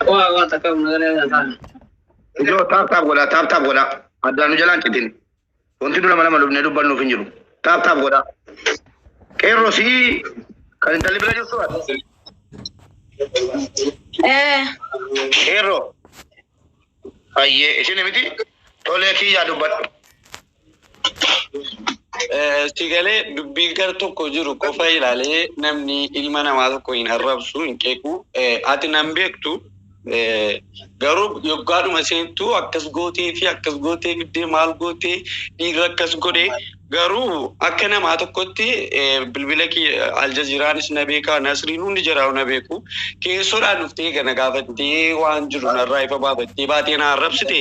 Waa waa takka nagalee lataan. Ijoo taap taap godhaa taap taap godhaa. Addaan nu jalaan citin. Wanti dura mana malubnee dubbannuuf hin jiru. Taap taap godhaa. Qeerroo si'ii kan intalli bira jirtu ati. Eh. Qeerroo. Ayyee isin miti tolee kiyyaa dubbadhu. Si galee dubbii gar tokko jiru qofa ilaalee namni ilma namaa tokko hin arrabsu hin qeequ. Ati nan beektu garuu yoggaadhuma seentu akkas gootee fi akkas gootee fiddee maal gootee dhiirri akkas godhee garuu akka namaa tokkotti bilbila kee aljaziiraanis na beekaa nasriin hundi jiraau na beeku keessoodhaan dhuftee gana gaafattee waan jiru narraa ifa baafattee baatee na arrabsite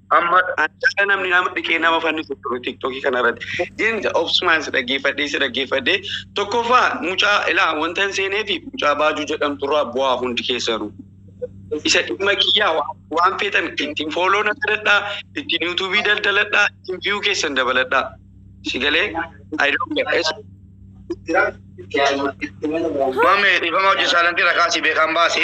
Amma Anjala namni nama dhiqee nama fannisu ture tiktokii kana irratti. Jeen obsumaan si dhaggeeffadhee si dhaggeeffadhee tokkoffaa mucaa ilaa wanta hin seenee fi mucaa baajuu jedhamtu irraa bu'aa hundi keessanu. Isa dhimma kiyyaa waan- waan feetan ittiin fooloo na godhadhaa, ittiin yuutuubii daldaladhaa, ittiin viyuu keessan dabaladhaa. Si galee? I don't care. Es- Mame, dhiifama hojii saalantii rakaa si beekaan baase.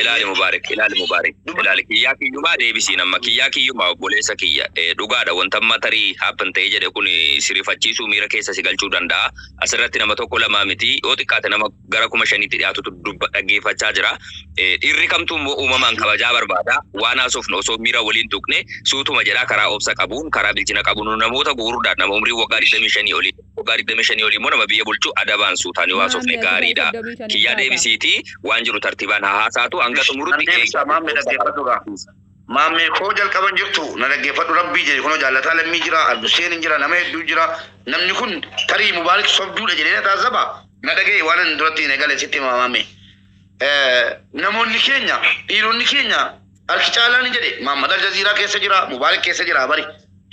Ilaali Mubaarik ilaali Mubaarik ilaali kiyyaa kiyyumaa deebisiin amma kiyyaa kiyyumaa obboleessa kiyya Eh, dhugaadha wanta amma tarii happen ta'ee jedhe kun eh, si rifachiisuu miira keessa si galchuu danda'a asirratti nama tokko lamaa miti yoo xiqqaate nama gara kuma shaniitti dhiyaatutu dubba dhaggeeffachaa jira Eh, dhiirri kamtuu immoo uumamaan kabajaa barbaada waan haasofnu osoo miira waliin tuqne suutuma jedhaa karaa obsa qabuun karaa bilchina qabuun namoota gugurdaadha nama umrii waggaa 25 olii Waggaa 25 olii immoo nama biyya bulchu adabaan suutaan yoo haasofne Maammi ati gaarii dha. soddomii shaniin Kiyyaa taata. deebisiitii waan jiru tartiibaan haa haasaatu hanga Ish, nan xumurutti deebisaa eegaa. maammee dhaggeeffadhu gaa. Maammee koo jalqaban jirtu na dhaggeeffadhu rabbii jedhe kunoo jaallataa lammii jira abduseen hin jira nama hedduu jira namni kun tarii mubaarik sobduudha jedhee na taazzaba na dhagaye waan ani duratti hin egale sitti hima maammee. Eh, Namoonni keenya dhiironni keenya Harki caalaan ni jedhe Mahammad Aljaziiraa keessa jira, Mubaarik keessa jira bari.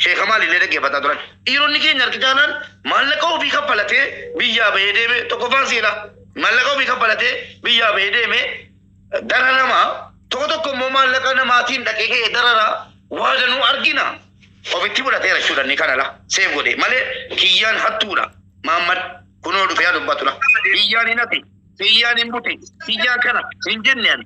Sheeka maalillee dhaggeeffataa turan. Dhiironni keenya harki caalaan maallaqa ofii kaffalatee biyyaa bahee deeme tokkoffaan seenaa. Maallaqa ofii kaffalatee biyyaa bahee deeme dararama. Tokko tokko immoo maallaqa namaatiin dhaqee ka'ee darara waa danuu argina. Ofitti fudhateera jechuudha inni kana la seef godhe malee kiyyaan hattuudha. Maammad kunoo dhufee haa dubbatudha. Kiyyaan hin hati, kiyyaan hin buti, kiyyaan kana hin jenne ani.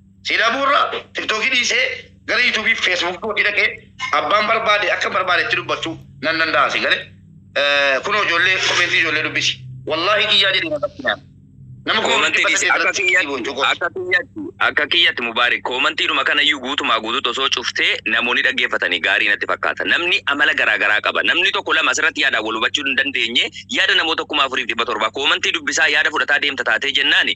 Si dhabuu irra tiktoki dhiisee gara yutubii fi feesbuuk kootii dhaqee abbaan barbaade akka barbaade itti dubbachuu nan danda'a si gale kunoo ijoollee komentii ijoollee dubbisi wallaahi kiyyaa jedhee na qabsinaan nama koo Koomantii dubbata dhiisi. Akka keessatti kiyyatti, boojuu kooti. akka kiyyatti, akka kiyyatti Mubaarik koomantiidhuma kanayyuu guutumaa guutuutti osoo cuftee namoonni dhaggeeffatanii gaarii natti fakkaata. Namni amala garaa garaa qaba. Namni tokko lama asirratti yaadaan wal hubachuu hin dandeenye yaada namoota kuma afuriif dhibba torbaa koomantii dubbisaa yaada fudhataa deemta taatee jennaani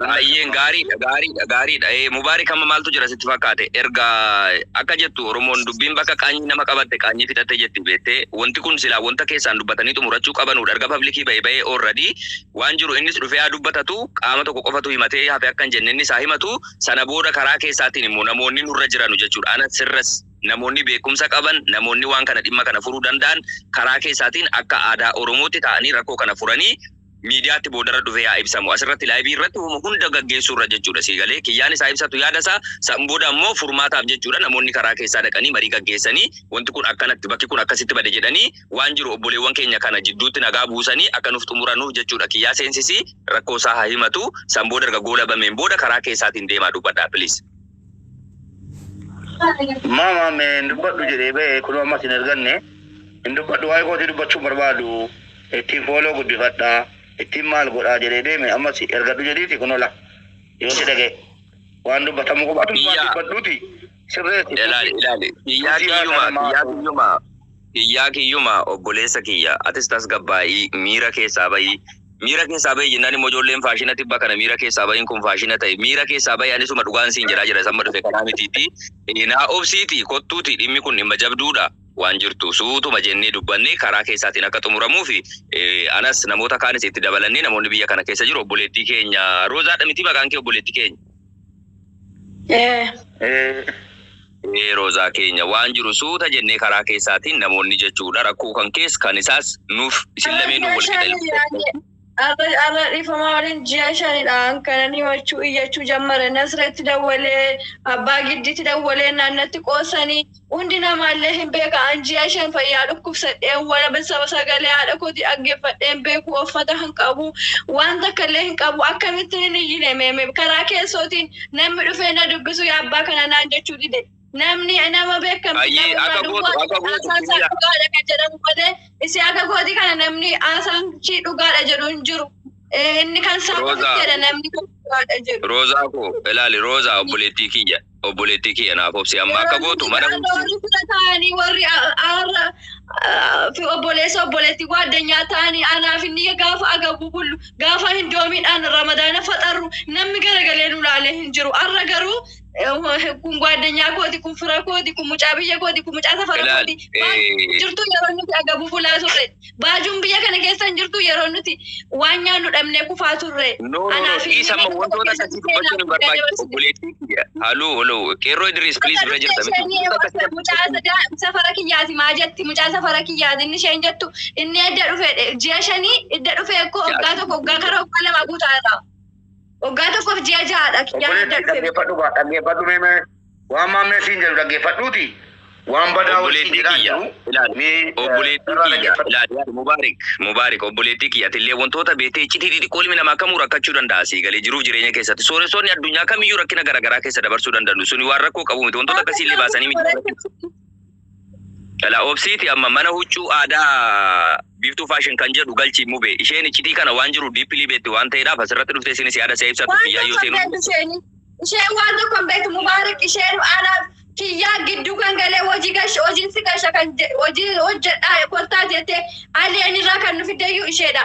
Ayyeen gaariidha gaariidha gaariidha. Ee, Mubaarik amma maaltu jira sitti fakkaate? Erga akka jettu Oromoon dubbiin bakka qaanyii nama qabatte qaanyii fixatte jetti beettee wanti kun silaa wanta keessaan dubbatanii xumurachuu qabanudha. Erga publikii ba'e ba'ee already waan jiru innis dhufee haa dubbatatu qaama tokko qofatu himatee hafe akka hin jenne innis haa himatu sana booda karaa keessaatiin immoo namoonni nurra jiranu jechuudha. Ana sirras namoonni beekumsa qaban namoonni waan kana dhimma kana furuu danda'an karaa keessaatiin akka aadaa Oromootti taa'anii rakkoo kana furanii miidiyaatti boodarra dhufee haa ibsamu. Asirratti laayivii irratti wama hunda gaggeessuurra jechuudha sii galee kiyyaaniis haa ibsatu yaada isaa san booda ammoo furmaataaf jechuudha namoonni karaa keessaa dhaqanii marii gaggeessanii wanti kun akkanatti bakki kun akkasitti bade jedhanii waan jiru obboleewwan keenya kana jidduutti nagaa buusanii akka nuuf xumuranuuf jechuudha kiyyaa seensisii rakkoo isaa haa himatu san booda erga goolabameen booda karaa keessaatiin deemaa dubbadhaa please. Maama mee hin dubbadhu jedhee ba'e kunoo ammas hin erganne. Hin dubbadhu waa'ee kootii dubbachuu barbaadu. Ittiin fooloo guddifadha. Ittiin maal godhaa jedhee deeme ammas ergadhu jedhiiti kunoo la. Yoo si dhaga'e waan dubbatamu qofa ati waan Biyyaa. dubbadhuuti sirreessi. Ilaali ilaali. Biyyaa Biyyaa kiyyumaa kanuma. biyyaa kiyyumaa. Kiyyaa kiyyuma obboleessa kiyya atis tasgabbaa'ii miira keessaa bahi miira keessaa bahi jennaan immoo ijoolleen faashina tibba kana miira keessaa bahiin kun faashina ta'e miira keessaa bahi anisuma dhugaan siin jedhaa jira isamma dhufe kanaa mitiitti naa obsiiti kottuuti dhimmi kun dhimma jabduudha waan jirtu suutuma jennee dubbannee karaa keessaatiin akka xumuramuu fi anas namoota kaanis itti dabalannee namoonni biyya kana keessa jiru obboleettii keenya roozaadha mitii maqaan kee obboleettii keenya Ee Roozaa keenya waan jiru suuta jennee karaa keessaatiin namoonni jechuudha rakkoo kan kees kan isaas nuuf isin lameenuu wal qixa ilaalcha. Arra arra dhifamaa waliin ji'a shanidha kanan himachuu iyyachuu jammare nasretti dawwalee abbaa giddiitti dawwalee naannatti qoosanii Hundi nama illee hin beeka an ji'a shan fayyaa dhukkubsadheen waraba saba sagalee haadha kooti dhaggeeffadheen beeku offata hin qabu waan takka illee hin qabu akkamittiin hin iyyine meeme karaa keessootiin namni dhufee na dubbisu yaa abbaa kana naan jechuu dide namni nama beekamti Ayyii, nama akka irraa gootu, akka gootu, haasaan isaa biyya. dhugaadha kan jedhamu malee isii akka kooti kana namni haasaan ishii dhugaadha jedhu hin jiru Eh, inni kan isaa Roozaa. qofitti jedha namni kan dhugaadha jedhu Roozaa koo ilaali Roozaa obboleettii kiyya. obboleettii kiyya naaf obsi amma akka gootu mana warri sila ta'anii warri aarra fi obboleessa obboleettii waaddeenyaa ta'anii anaaf inni gaafa agabuu bullu gaafa hin doomiidhaan ramadaana faxarru namni garagalee nu laalee hin jiru arra garuu kun waaddeenyaa kooti kun fira kooti kun mucaa biyya kooti kun mucaa safara kooti jirtu yeroo nuti agabuu bulaa turre. Baajuun biyya kana keessa hin jirtu yeroo nuti waan nyaannu dhabnee kufaa turre. No, no, no, dhiisa amma wantoota akkasii dubbachuun hin barbaachisu. Obboleettii kiyya. Haloo, haloo, qeerroo Idiriis, please bira jirta miti. Mucaa sadaa safara kiyyaati maa jetti mucaa safara kiyyaati inni isheen jettu inni edda dhufe ji'a shanii edda dhufe koo waggaa tokko waggaa kara waggaa lama guutaa irraa waggaa tokkoof ji'a ja'aadha kiyyaan edda Obboleettii dhufe. dhaggeeffadhu gaa, dhaggeeffadhu mee mee. Waan maammeen siin jedhu dhaggeeffadhuuti waan badaa wal siin Obboleettii jedhaa kiyya jiru ilaali. mee eh, Obboleettii irraa kiyya dhaggeeffadhu. ilaali. Yaad Mubaarik Mubaarik obboleettii kiyya atillee wantoota beektee iccitii xixiqqoo ilmi namaa kamuu rakkachuu danda'a sii galee jiruuf jireenya keessatti sooressoonni addunyaa kamiyyuu rakkina garaagaraa keessa dabarsuu danda'u suni waan rakkoo qabu miti wantoota akkasii illee baasanii miti. Dhala obsiiti amma mana huccuu aadaa biiftuu fashion kan jedhu galchi mube isheen iccitii kana waan jiru deeply beekti waan ta'eedhaaf asirratti dhuftee isinis yaada si'a ibsattu Waan kiyyaa yoo tokko hin seenuun beektu isheen. Isheen waan tokko hin beektu Mubaarak isheen anaaf kiyyaa gidduu kan galee hojii gash hojiin si gasha kan je- hojii hojjedhaa kottaa jettee alien irraa kan nu fiddeyyuu isheedha.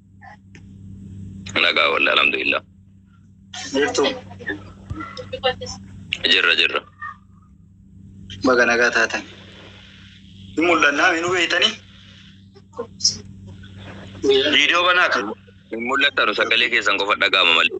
Nagaa wallah alhamdulillah. Jirtu Jirra jirra. baga nagaa taatan. Hin mul'annaa hin hubeeytanii? Viidiyoo banaa kan. Hin mul'attanu sagalee keessan qofa dhaga'ama malee.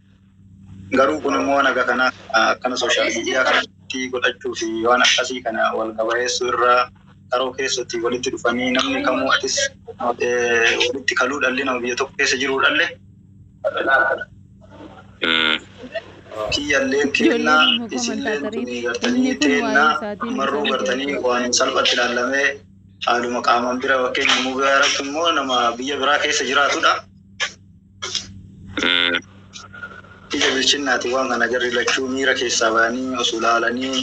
Garuu kun immoo naga kana akkana sooshaal miidiyaa kanatti godhachuu fi waan akkasii kana wal gabayeessuu irra karoo keessatti walitti dhufanii namni kamuu atis walitti kaluu dhalli nama biyya tokko keessa jiruu dhalle kiyyallee keennaa isillee tunii gartanii teennaa marruu gartanii waan salphatti ilaallamee haaluma qaamaan bira fakkeenya immoo bira irratti immoo nama biyya biraa keessa jiraatudha. Ija bilchinnaati waan kana jarri lachuu miira keessaa ba'anii of ilaalanii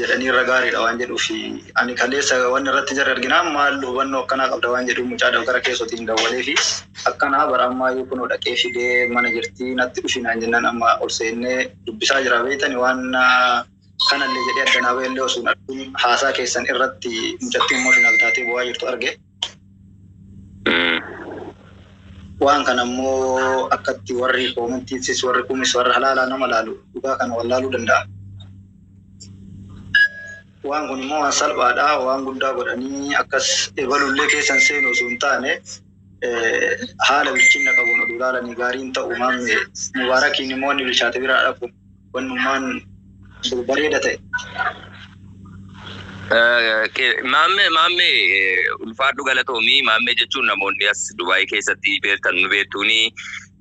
jedhanii irra gaariidha waan jedhuufi. Ani kaleessa waan irratti jarri arginaan maal hubannoo akkanaa qabda waan jedhu mucaa dabtara keessootiin dawwaleefi akkanaa bara ammaayyuu kunoo dhaqee fidee mana jirtii natti dhufi naan jennaan amma ol seennee dubbisaa jira beektani waan kanallee jedhee adda naa ba'ellee osoo hin argin haasaa keessan irratti mucattiin emotional taatee boo'aa jirtu arge. Waan kana immoo akkatti warri koomantiisis warri kumis warra halaalaa nama laalu dhugaa kana wallaaluu danda'a. Waan kun immoo waan salphaadha waan guddaa godhanii akkas ebalullee keessan seenu osoo hin taane haala bilchinna qabuun oduu laalanii gaariin ta'u maamne mubaarakiin immoo inni bilchaate biraa dhabu wannumaan jiru bareeda ta'e. Maammee maammee ulfaadhu galatoomi maammee jechuun namoonni as Dubaayii keessatti beektan nu beektuuni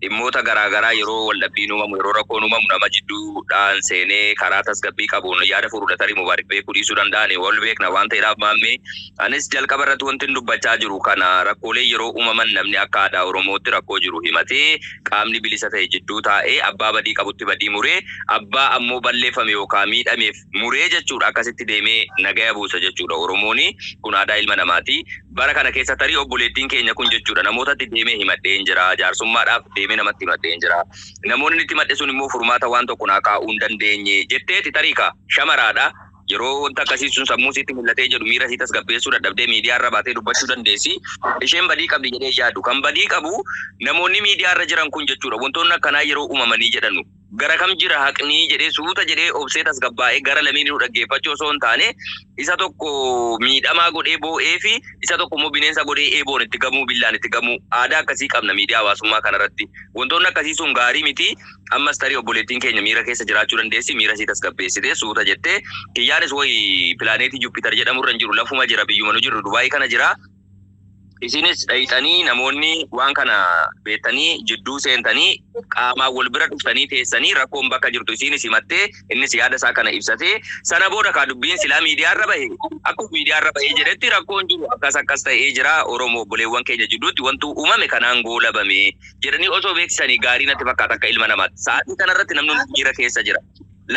dhimmoota garaagaraa yeroo waldhabbiin uumamu yeroo rakkoon uumamu nama jidduudhaan seenee karaa tasgabbii qabuun yaada furuudha tarii mubaarik beekuu dhiisuu danda'an wal beekna waan ta'eedhaaf maammee anis jalqaba irratti wanti dubbachaa jiru kana rakkoolee yeroo uumaman namni akka aadaa oromootti rakkoo jiru himatee qaamni bilisa ta'e jidduu taa'ee abbaa badii qabutti badii muree, abbaa ammoo balleeffame yookaa miidhameef muree jechuudha. Akkasitti deemee nagaya buusa jechuudha Oromooni. Kun aadaa ilma namaati. Bara kana keessa tarii obboleettiin keenya kun jechuudha namootatti deemee himadheen jira, jaarsummaadhaaf deemee namatti himadheen jira. Namoonni inni itti himadhe sun immoo furmaata waan tokko naa kaa'uu hin dandeenye jetteeti tarii kaa. Shamaraadha. Yeroo wanti akkasii sun sammuu sitti mul'atee jedhu miira isii tasgabbeessuu dadhabdee miidiyaa irra baatee dubbachuu dandeessi. Isheen badii qabdi jedhee hin yaadu. Kan badii qabu namoonni miidiyaa irra jiran kun jechuudha. Wantoonni akkanaa yeroo uumamanii jedhanu gara kam jira haqni jedhee suuta jedhee obsee tasgabbaa'ee gara lameeninuu dhaggeeffachuu osoo hin taane isa tokko miidhamaa godhee boo'ee fi isa tokko immoo bineensa godhee eeboon itti gamuu billaan itti gamuu aadaa akkasii qabna miidiyaa hawaasummaa kanarratti. Wantoonni akkasii sun gaarii miti. Ammas tarii obboleettiin keenya miira keessa jiraachuu dandeessi, miira isii tasgabbeessitee suuta jettee, Kiyyaanis woy pilaaneetii Jupiter jedhamu irra hin jiru, lafuma jira, biyyuma nu jirru Dubai kana jira, isinis dhayxanii namoonni waan kana beettanii jidduu seentanii qaamaan wol bira dhuftanii teessanii rakkoon bakka jirtu isiinis himattee, innis yaada isaa kana ibsatee, sana booda kaa dubbiin silaa miidiyaa irra bahe, akkuma miidiyaa irra bahee jedhetti rakkoon jiru akkas akkas ta'ee jira, Oromoo obboleewwan keenya jidduutti wantuu uumame kanaan goolabame, jedhanii osoo beeksisanii gaarii natti fakkaata akka ilma namaatti. Sa'aatii kanarratti namni hundi miira keessa jira.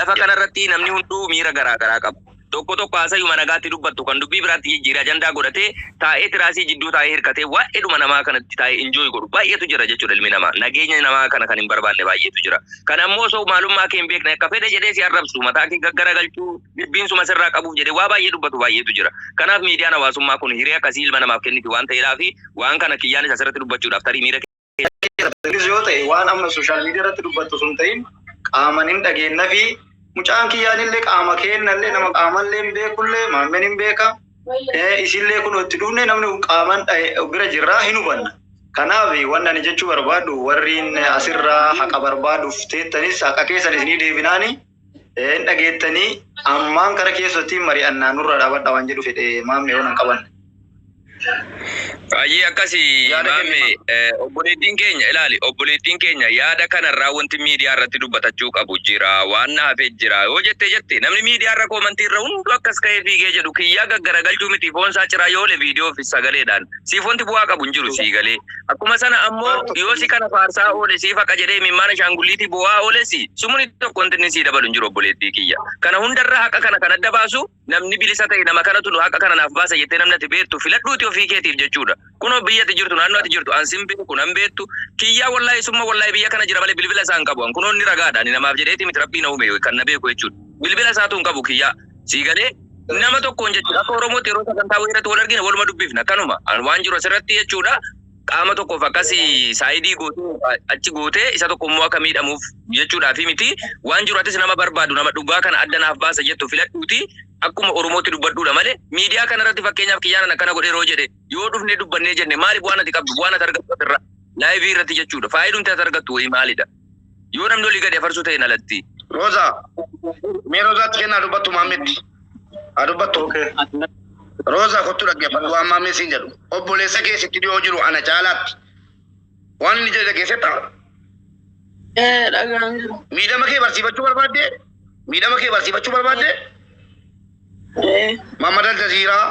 Lafa kanarratti namni hunduu miira garaa garaa qaba. Tokko tokko haasayuma nagaatti dubbattu kan dubbii biraatti jijjiiree ajandaa godhatee taa'ee tiraasii jidduu taa'ee hirkatee waa'eedhuma namaa kanatti taa'ee injooy godhu baay'eetu jira jechuudha ilmi namaa. Nageenya namaa kana kan hin barbaanne baay'eetu jira. Kan ammoo osoo maalummaa kee hin beekne akka fedhe jedhee si arrabsu mataa kee gaggaragalchuu jibbiinsuma sirraa qabuuf jedhee waa baay'ee dubbatu baay'eetu jira. Kanaaf miidiyaan hawaasummaa kun hiree akkasii ilma namaaf kenniti waan ta'eedhaafi waan kana kiyyaanis asirratti dubbachuudhaaf tarii miira keessattis yoo ta'e waan amma sooshaal miidiyaa irratti dubbattu osoo hin ta'in qaaman hin dhageenna fi mucaan kiyyaanillee qaama keennallee nama qaamallee hin beekullee maammeen hin beeka Eh, isillee kun itti dhufne namni qaaman dhahe- bira jirraa hin hubanna. Kanaaf wanni ani jechuu barbaadu warriin asirraa haqa barbaaduuf teettanis haqa keessan isinii deebinaanii Hin dhageettanii ammaan kara keessatti mari'annaa nurraa dhaabadha waan jedhu fedhe maammee waan hin qabanne. Baay'ee akkasi Yaada maammee kennimaa. eh, obboleettiin keenya ilaali obboleettiin keenya yaada kanarraa wanti miidiyaa irratti dubbatachuu qabu jira waan na hafee jira yoo jette jette namni miidiyaa irra koomantii irra hundu akkas ka'ee fiigee jedhu kiyyaa gaggaragalchuu miti foon isaa ciraa yoo le viidiyoo fi sagaleedhaan siif wanti bu'aa qabu hin jiru sii galee Akkuma sana ammoo yoo si kana faarsaa oole siif haqa jedhee mimmaana shaangulliitii boo'aa oolessi sumuni tokko wanti inni sii dabalu hin jiru obboleettii kiyya. Kana hundarra haqa kana kan adda baasu namni bilisa ta'e nama kanatu nu haqa kana naaf baasa jettee namni ati beektu filadhuuti ofii keetiif jechuudha. Kunoo biyya ati jirtu naannoo ati jirtu an sin beeku nan beektu kiyyaa wallahi summa wallahi biyya kana jira malee bilbila isaa hin qabu an kunoo inni ragaadha ani namaaf jedheeti miti rabbii na uume kan na beeku jechuudha. Bilbila isaatu hin qabu kiyyaa. Sii galee nama tokkoon jechuudha. Akka Oromootti yeroo sagantaa wayii irratti wal argine waluma dubbifna. Akkanuma An waan jiru asirratti jechuudha. Qaama tokkoof akkasii saayidii gootee achi gootee isa tokko immoo akka miidhamuuf jechuudhaa fi miti waan jiru atis nama barbaadu nama dhugaa kana adda naaf baasa jettu filadhuuti akkuma Oromootti dubbadhuudha malee miidiyaa kana irratti fakkeenyaaf kiyyaanan akkana godhee yeroo jedhe yoo dhufnee dubbannee jenne maaliif waan ati qabdu waan ati argattu asirra laayivii irratti jechuudha faayidumti ati argattu wayii maalidha. Yoo namni olii gadi afarsuu ta'een alatti. Roza. Mee Rozaatti kennaa dubbattu maammetti. Haa dubbattu. Roza kottu dhaggeeffadhu waan maammee siin jedhu. Obboleessa kee sitti dhiyoo jiru ana caalaatti. Waan inni jedhe keessetta. Ee dhagaan jiru. Miidhama kee barsiifachuu barbaadde? Miidhama kee barsiifachuu barbaadde? Ee. Maammad Aljaziiraa.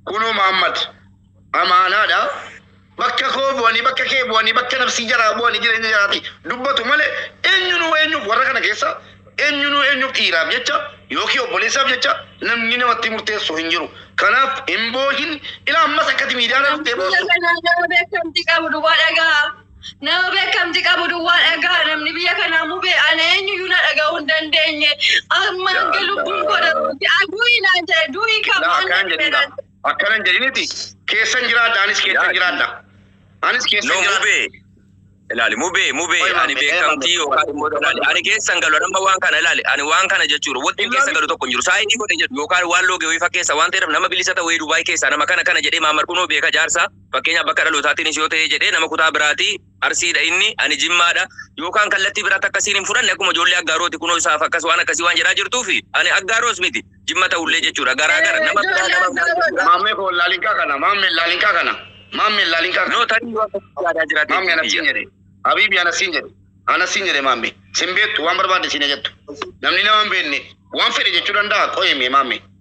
Kunoo Maammad. amaanaadha. Bakka koo bu'anii, bakka kee bu'anii, bakka nafsii jaraa bu'anii jireenya jaraati dubbatu malee eenyunuu eenyuuf warra kana keessa eenyunuu eenyuuf dhiiraaf jecha yookiin obboleessaaf jecha namni namatti murteessu hin jiru. Kanaaf hin boohin ilaa ammas akkati miidiyaadhaan dhuftee boossu. Biyya kanaa nama beekamti qabu duwwaa dhaga'a. Nama beekamti qabu duwwaa dhaga'a. Namni biyya kanaa mube ana eenyuyyuu na dhaga'uu hin dandeenye. Amma hanga lubbuun koo darbutti aduuyi naan jedhe duuyi kan Laa maal akkaan jedhuudha. jedhan. Akkana hin jedhiniti keessan jiraadha anis keessan Yaa. jiraadha. Anis keessan No jiraadha. mubee. Ilaali mubee mubee Qoy, ani mubee, beekamtii mubee. yookaan immoo ilaali ani keessan galu nama waan kana ilaali ani waan kana jechuudha wanti Ilaali. keessa galu tokko hin jiru saayinii godhe jedhu yookaan waan loogee wayii fakkeessa waan ta'eef nama bilisa ta'e wayii Dubaay keessaa nama kana kana jedhee maamar kunoo beeka jaarsa fakkeenyaaf bakka dhalootaatiin ishee yoo ta'ee jedhee nama kutaa biraatii Arsiidha inni, ani Jimmaadha. Yookaan kallattii biraa takka siin hin fudhanne akkuma ijoollee Aggaarooti kunoo isaaf akkas waan akkasii waan jedhaa jirtuufi ani Aggaaroos miti Jimma ta'ullee jechuudha garaa gara nama biraa nama biraa jechuudha. Maammee koo laalinkaa kana maammee laalinkaa kana maammee laalinkaa kana. No tarii yoo akkasii yaadaa jiraate Maammee ana siin jedhe Habiibi ana siin jedhe ana siin jedhe maammee sin beektu waan barbaadde siin jettu namni nama hin beekne waan fedhe jechuu danda'a qoyee mee maammee.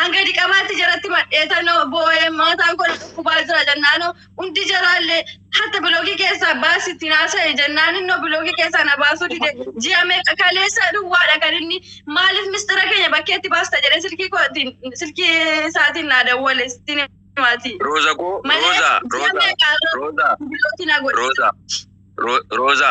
An gadi qabaatti jaratti madheetannoo boo'ee maataan koo na dhukkubaa jira jennaanoo hundi jaraallee hatta biloogii keessaa baasi itti naasa'e jennaan innoo biloogii keessaa na baasuu dide ji'a meeqa kaleessa duwwaadha kan inni maaliif mistira keenya bakkeetti baasta jedhee silkii kootiin silkii isaatiin naa dawwale sittiin himaati. Rooza koo Malee Rooza ji'a Rooza meeqa Rooza biloogii na godhe. Rooza Ro- Rooza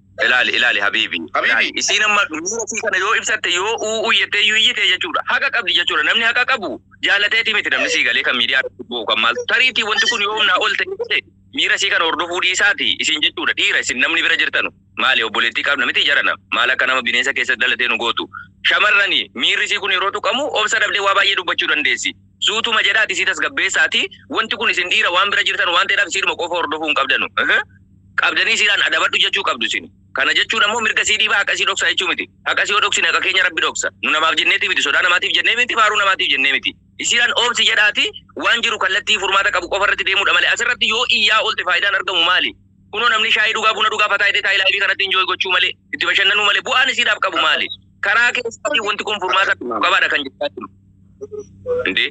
Ilaali ilaali habiibi. Habiibi. Ilaali. Isiin amma miira isii kana yoo ibsatte yoo u'uu jettee iyyuu iyyite jechuudha. Haqa qabdi jechuudha. Namni haqa qabu jaalateeti miti namni sii galee kan miidiyaa irratti bu'u kan maaltu. Tariitii wanti kun yoo humnaa ol ta'e ta'e miira isii kana hordofuu dhiisaati isin jechuudha. Dhiira isin namni bira jirtanu. Maali obboleettii qabna miti jarana. Maal akka nama bineensa keessa dhalatee nu gootu. Shamarrani miirri isii kun yeroo tuqamu obsa dhabdee waa baay'ee dubbachuu dandeessi. Suutuma jedhaa dhisii tasgabbeessaati wanti kun isin dhiira waan bira jirtan waan ta'eedhaaf isiidhuma qofa hordofuu hin qabdanu. Qabdanii isiidhaan adabadhu jechuu qabdu isin. Kana jechuun ammoo mirga isii dhiibaa haqa isii dhoksaa jechuu miti. Haqa isii yoo dhoksine haqa keenya rabbi dhoksa. Nu namaaf jenneetii miti sodaa namaatiif jennee miti faaruu namaatiif jennee miti. Isiidhaan oobsi jedhaati waan jiru kallattii furmaata qabu qofa irratti deemuudha malee asirratti yoo iyyaa oolte faayidaan argamu maali? Kunoo namni shaayii dhugaa buna dhugaa fataa jedhee taa'ee laayivii kanatti enjoy gochuu malee itti bashannanuu malee bu'aan isiidhaaf qabu maali? Karaa keessaatiin wanti kun furmaata argachuu qabaadha kan jechaa jiru. Indee.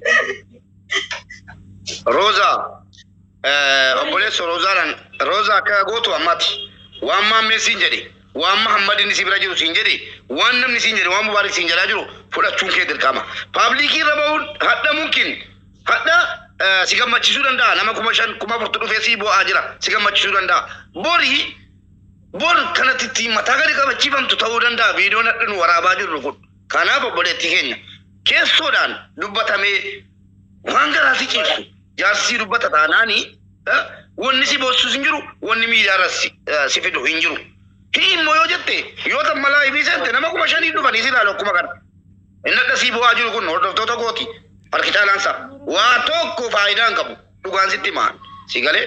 Roza, eh, obboleessa Rozaadhaan, Roza akka gootu ammati. Waan maammeen siin jedhe, waan Mahammadin si bira jiru siin jedhe, waan namni siin jedhe, waan Mubaarik siin jedhaa jiru fudhachuun kee dirqama. Paablikii irra bahuun hadhamuun kin hadha eh, si gammachiisuu danda'a. Nama kuma shan, kuma afurtu dhufee si bo'aa jira. Si gammachiisuu danda'a. Borii Bor kanatti ittiin mataa gadi qabachiifamtu ta'uu danda'a viidiyoon har'a nu waraabaa jirru kun. Kanaaf obboleettii keenya keessoodhaan dubbatamee waan garaa si ciibsu jaarsi si dubbata taanaani eh, wanni si boossus hin jiru wanni miidiyaarras si eh, si fidu hin jiru. Hii immoo yoo jette yoo tan malaa ibii seente nama kuma shanii dhufanii si ilaalu akkuma kana. Inni adda sii bu'aa jiru kun hordoftoota kooti harki caalaansa waa tokko faayidaa hin qabu dhugaan sitti himaan si galee.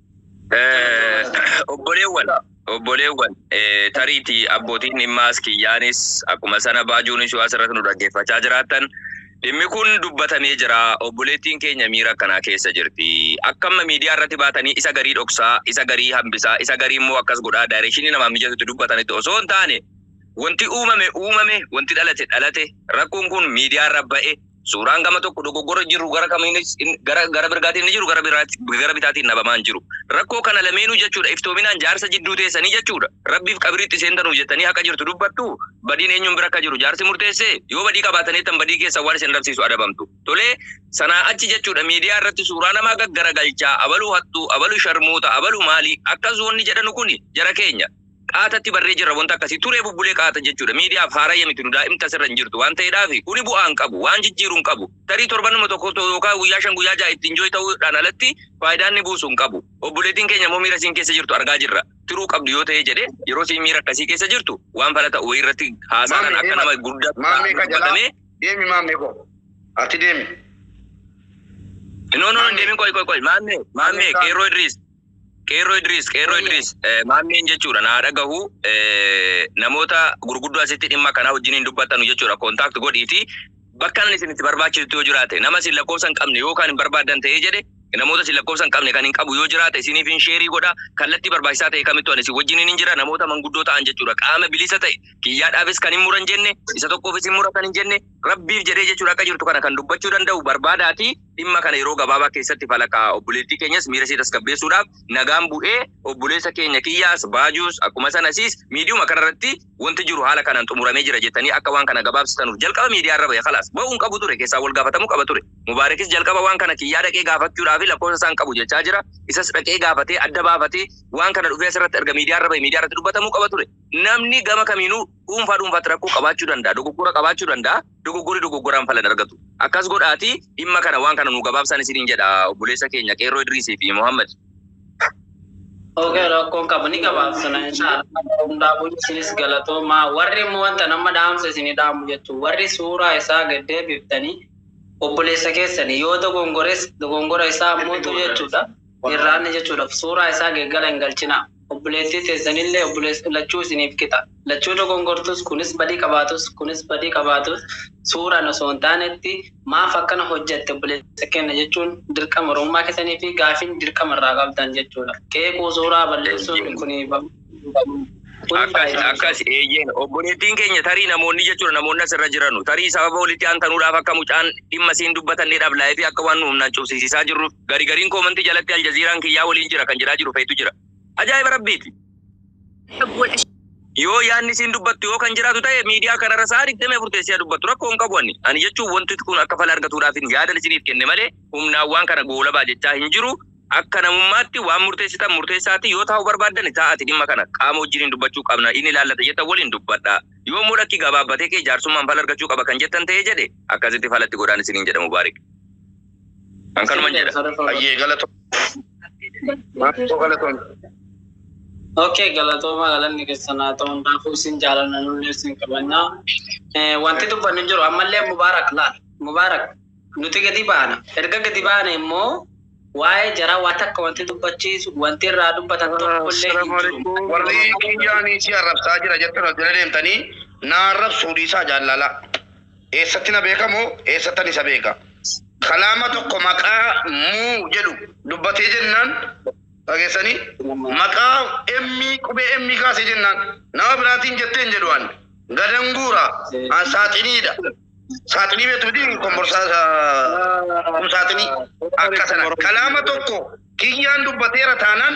Obboleewwan, obboleewwan, tariitii abbootiin dhimmaas kiyyaanis akkuma sana baajuun ishuu asirratti nu dhaggeeffachaa jiraattan dhimmi kun dubbatamee jira. Obboleettiin keenya miira akkanaa keessa jirti. Akka amma miidiyaa irratti baatanii isa garii dhoksaa, isa garii hambisaa, isa garii immoo akkas godhaa daayirekshinii namaa mijatutti dubbatanitti osoo hin taane wanti uumame uumame, wanti dhalate dhalate, rakkoon kun miidiyaa irra ba'e Suuraan gama tokko dogoggora jiru gara kamiinis in- gara gara mirgaatiin inni jiru gara biraati- gara bitaatiin dhabamaan jiru. Rakkoo kana lameenuu jechuudha iftoominaan jaarsa jidduu teessanii jechuudha. Rabbiif qabriitti seentanuu jettanii haqa jirtu dubbattu badiin eenyuun bira akka jiru jaarsi murteessee yoo badii qabaataneettan badii keessa waan isin dhabsiisu adabamtu. Tolee sanaa achi jechuudha miidiyaa irratti suuraa namaa gaggaragalchaa abaluu hattuu abaluu sharmuuta abaluu maalii akkas wanni jedhanu kuni jara keenya. Qaatatti barree jirra wanta akkasii turee bubbulee qaata jechuudha miidiyaaf haarayya miti nu daa'imti asirra hin jirtu waan ta'eedhaafi kuni bu'aa hin qabu waan jijjiiru hin qabu tarii torbanuma tokko to- yookaan guyyaa shan guyyaa ja'a itti enjoy ta'uudhaan alatti faayidaa inni buusu hin qabu obboleettiin keenya immoo miira isiin keessa jirtu argaa jirra tiruu qabdu yoo ta'ee jedhe yeroo isiin miira akkasii keessa jirtu waan fala ta'u wayii irratti haasaanan Maamee, akka nama guddaa Maamee ka jalaa. dubbatamee Deemi maamee koo. Ati deemi. no no no deemin qoy qoy qoy maammee maammee Maamee, qeerroo idriis Qeerroo Idriis, Qeerroo Wayya. Idriis, eh, maammeen jechuudha naa dhagahu eh, namoota gurguddoo asitti dhimma kanaa wajjin hin dubbattanu jechuudha kontaakt godhiiti bakka inni isin itti barbaachisutti yoo jiraate nama isin lakkoofsa hin qabne yoo kan hin barbaaddan ta'ee jedhe namoota isin lakkoofsa hin qabne kan hin qabu yoo jiraate isiniif hin sheerii godha kallattii barbaachisaa ta'e kamittu ani isin wajjin hin jira namoota manguddoo ta'an jechuudha qaama bilisa ta'e kiyyaadhaafis kan hin muran jenne isa tokkoofis hin muratan hin jenne rabbiif jedhee jechuudha akka jirtu kana kan dubbachuu danda'u barbaadaati Dhimma kana yeroo gabaabaa keessatti falaqa obboleettii keenyas miira ishee tasgabbeessuudhaaf nagaan bu'ee obboleessa keenya kiyyaas baajuus akkuma sana isiis miidiyuma kana irratti wanti jiru haala kanaan xumuramee jira jettanii akka waan kana gabaabsitanuuf jalqaba miidiyaa irra ba'e kalaas ba'uu hin qabu ture keessaa wal gaafatamuu qaba ture mubaarekis jalqaba waan kana kiyyaa dhaqee gaafachuudhaa fi lakkoofsa isaan qabu jechaa jira isas dhaqee gaafatee adda baafatee waan kana dhufee asirratti erga miidiyaa irra ba'e miidiyaa irratti dubbatamuu qaba ture namni gama kamiinuu dhuunfaa dhuunfaatti rakkoo qabaachuu danda'a dogoggora qabaachuu danda'a Dogoggorri dogoggoraan fala hin argatu. Akkas godhaatii dhimma kana waan kana nuu gabaabsaan isiniin jedha obboleessa keenya Qeerroo Idriisii fi Muhammad. Ok rakkoon qabu ni gabaabsina inshaallah hundaafuu isinis galatoomaa warri immoo wanta nama dhaamsa isin dhaamu jettu warri suuraa isaa gad deebiftanii obboleessa keessani yoo dogongores dogongora isaa mootu jechuudha irraanni jechuudhaaf suuraa isaa geeggala hin galchinaa. Obboleettii teessanillee obboleessi lachuu isiniif qixa. Lachuu dogongortus, kunis badii qabaatus, kunis badii qabaatus, suuraan osoo hin taanetti maaf akkana hojjatte obboleessa keenna jechuun dirqama Oromummaa keessanii fi gaafiin dirqama irraa qabdan jechuu dha. Qeequu, suuraa balleessuun Eeyyeen. kuni babal'achuu qabu. Kuni Akkas, faayidaa hin akkas, qabu. eeyyeen. Obboleettiin keenya tarii namoonni jechuu dha, namoonni as irra jiranu, tarii sababa walitti aantanuudhaaf akka mucaan dhimma isiin dubbatanne dhablaa'ee fi akka waan nu humnaan cubsisiisaa jirruuf, Gari gariin koomantii jalatti Aljaziiraan kiyyaa waliin jira kan jedhaa jiru feetu jira. Ajaa'iba Rabbiiti. Yoo yaadni isiin dubbattu yoo kan jiraatu ta'e miidiyaa kanarra sa'a 24 teessee haa dubbattu rakkoo hin qabu ani. Ani jechuun wanti kun akka fala argatuudhaafin yaadan isiniif kenne malee humnaan waan kana goolabaa jechaa hin jiru. Akka namummaatti waan murteessitan murteessaatii yoo taa'uu barbaaddani taa'aati dhimma kana qaama wajjiniin dubbachuu qabna inni ilaallata jettan waliin dubbadhaa. Yoo immoo lakki gabaabbatee kee jaarsummaan fala argachuu qaba kan jettan ta'ee jedhe akkasitti fala itti godhaan isiniin jedha Mubaarik. An kanuman jedha. Ayyee galatoom. Maatoo galatoom. Okay, galatooma galanni keessan haa ta'u hundaafuu isin jaalanna nullee isin qabna. Eh, Wanti dubbannu hin jiru ammallee Mubaarak laal. Mubaarak nuti gadi baana. Erga gadi baane immoo waa'ee jaraa waa takka wanti dubbachiisu wanti irraa dubbatan tokkollee hin jiru. Warri kiyyaanii si arrabsaa jira jettan as jala deemtanii na arrabsuu dhiisaa jaallalaa. Eessatti na beeka moo eessattan isa beeka? Kalaama tokko maqaa muu jedhu dubbatee jennaan dhageessanii maqaa M qubee M kaasee jennaan nama biraatiin jettee hin jedhu an gadan guura an saaxiniidha. Saaxinii beektu miti komborsaa ah, kum saaxinii akka sana kalaama tokko kiyyaan dubbateera taanaan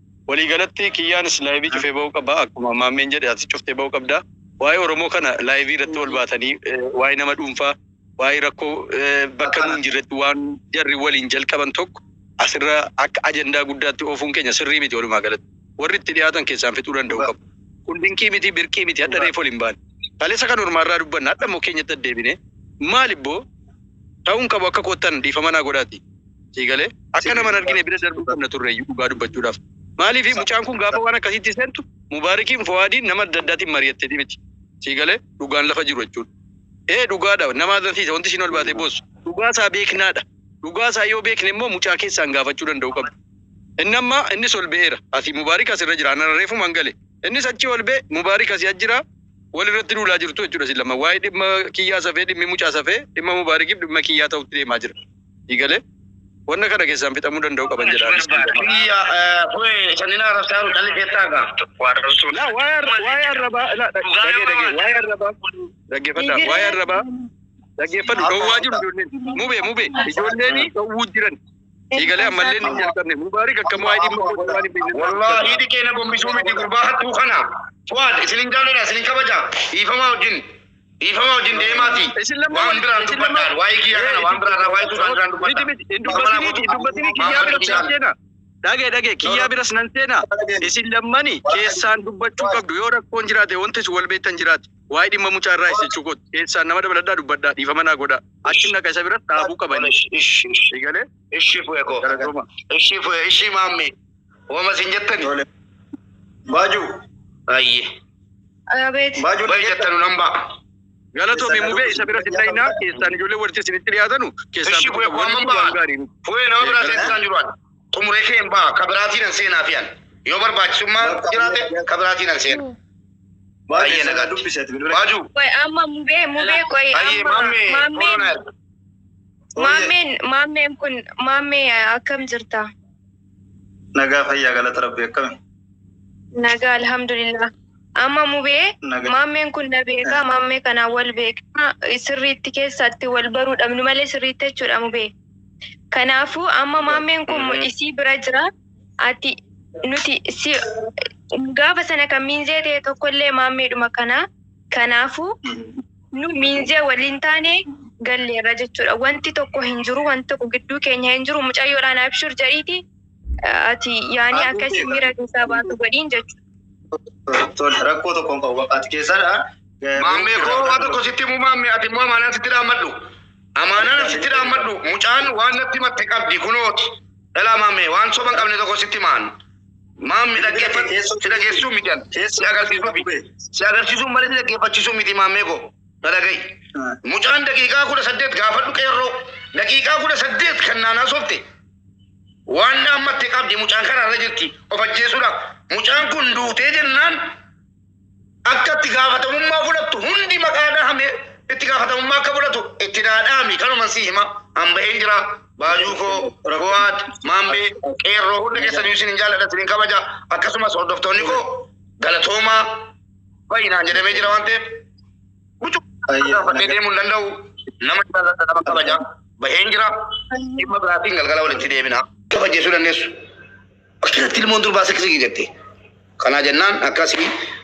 Walii galatti kiyyaanis live cufee ba'uu qaba akkuma maammeen jedhe atis cuftee ba'uu qabda. Waa'ee Oromoo kana live irratti ol baatanii waa'ee nama dhuunfaa waa'ee rakkoo bakka nuun jirretti waan jarri waliin jalqaban tokko asirra akka ajandaa guddaatti oofuun keenya sirrii miti walumaa galatti. Warri itti dhiyaatan keessaan fixuu danda'uu qabu. Kun dinqii miti birqii miti hadha reef ol hin baane. Kaleessa kan ormaa irraa dubbanne hadha immoo keenyatti addeebine maal ibboo ta'uun qabu akka koottan dhiifama naa godhaati. Sii galee? Akka nama hin argine bira darbuu qabna turreeyyu dhugaa dubbachuudhaaf. Maaliif mucaan kun gaafa waan akkasiitti seentu Mubaarikiin Fowaadiin nama adda addaatiin mari'atteti miti. Sii galee? Dhugaan lafa jiru jechuudha. Ee dhugaadha nama azansiisa wanti ishiin ol baatee boossu. Dhugaa isaa beeknaadha. Dhugaa isaa yoo beekne immoo mucaa keessaan gaafachuu danda'uu qabdu. Inni amma innis ol ba'eera. Asi Mubaarik asirra jira. Ana reefumaan gale. Innis achii ol ba'e Mubaarik asii as jira. Wal irratti duulaa jirtu jechuudha isin lama. Waa'ee dhimma kiyyaa safee dhimmi mucaa safee dhimma Mubaarikiif dhimma kiyyaa ta'utti deemaa jira. Ni gale. Wanna kana keessaan fixamuu danda'u qaban jedha anis Barbaada. dhiifama. Kiyya eh, kue sanina arabsaa jiru calli keessaa gaa. Waa arrabsuu. Laa waa'ee arra- waa'ee arrabaa laa dhag- Dhugaa dhagee yoo dhagee waan- waa'ee arrabaa dhaggeeffadhaa waa'ee arrabaa dhaggeeffadhu dhowwaa jiru ijoolleen mubee mubee ijoolleen dhowwuu jiran eegalee ammallee ni jalqabne mubaarik akka waa'ee dhimma koo waan hin beekne Wallahi hidhi keenya gombisuu miti gurbaa hattuu kana. Fuad isinin jaalladha isinin kabaja. Dhiifamaa wajjin. Dhiifama wajjin deemaatii Isin lamman waan wal- biraan isin lamman- dubbadhaan waa'ee kiyyaa kana waan biraa irraa waa'ee tuutaan biraan dubbadhaan. Miti miti hin dubbatinii hin dubbatinii kiyyaa biras nan seenaa. Dhagee dhagee kiyyaa biras nan seenaa. Isin lammani keessaan dubbachuu qabdu yoo rakkoon jiraate wanti isin wal beektan jiraate waa'ee dhimma mucaa irraa isa jechuu kooti keessaan nama dabaladhaa dubbadhaa dhiifama naa godhaa achi naqa isa biras dhaabuu qabani. Ishi ishi Eegalee ishi fu'e koo. galatoomaa. Ishi fu'e ishi maammee. Wama sin jettani. Tole. Baajuu. Ayye. Abeet. Baajuu Bayi jettanu nan ba'a. Galatoomi mubee isa bira sin dhayinaa keessaan ijoollee warti isinitti dhiyaatanu keessaan Ishi bu'e waan kuwan ba'a. gaarii miti. Bu'e nama biraa Galatoomi. seensisan jiru ani. Xumuree kee hin ba'a. Ka biraatiin an seenaa fi ani. Yoo barbaachisummaa jiraate ka biraatiin an seena. Baajuu Ayye, sana nagaa. dubbisi ati bilbila. Baajuu. Qoy amma mubee mubee qoy Ayye amma maammee. maammeen Koronaa. maammeen maammeen kun maammee akkam jirta? Nagaa fayyaa galata rabbi akkami? Nagaa alhamdulillah. Amma mubee Naga- maammeen kun na beekaa maammee kanaan wal beekaa sirriitti keessatti wal baruu dhabnu malee sirriitti jechuudha mubee. Kanaafuu amma maammeen kun Mhm. isii bira jira ati nuti si gaafa sana kan miinzee ta'e tokkollee maammeedhuma kanaa Kanaafuu nu miinzee waliin taanee galleerra jechuudha. Wanti tokko hin jiru, wanti tokko gidduu keenya hin jiru. Mucayyoodhaan abshir jedhiiti ati yaanii akka isin miira keessaa baatu godhiin jechuudha. Tole rakkoo tokko hin qabu. Ati keessadha. Maammee koo waan tokko sitti himuu maammee ati immoo amaanaan sitti dhaammadhu. Amaanaan sitti dhaammadhu mucaan waan natti himatte qabdi kunooti. Dhalaa maammee waan soba hin qabne tokko sitti himaan. Maammi dhaggeeffadhu si dhageessisuu miti an si agarsiisuufi si agarsiisuun malee si dhaggeeffachiisuu miti maammee koo na dhaga'i. Mucaan daqiiqaa kudha saddeet gaafadhu qeerroo daqiiqaa kudha saddeet kan naan haasofte waan dhaammatte qabdi mucaan karaarra jirti of ajjeesuudhaaf mucaan kun duutee jennaan Akka itti gaafatamummaa fudhattu hundi maqaa dhahamee itti gaafatamummaa akka fudhatu itti naa dhaami kanuman sii hima an baheen jira baajuu koo ragowaat maambee qeerroo hunda keessanii isin hin jaalladha isin hin kabaja akkasumas hordoftoonni koo galatoomaa baay'inaan jedhamee jira waan ta'eef bucuu Baay'ee gaafannee nagaa. deemuu hin danda'u nama jaalladha nama kabaja baheen jira dhimma biraatiin galgala walitti deebina kabajjeessuu dandeessu. Akkasatti ilmoon durbaa seksii jette. Kanaa jennaan akkasii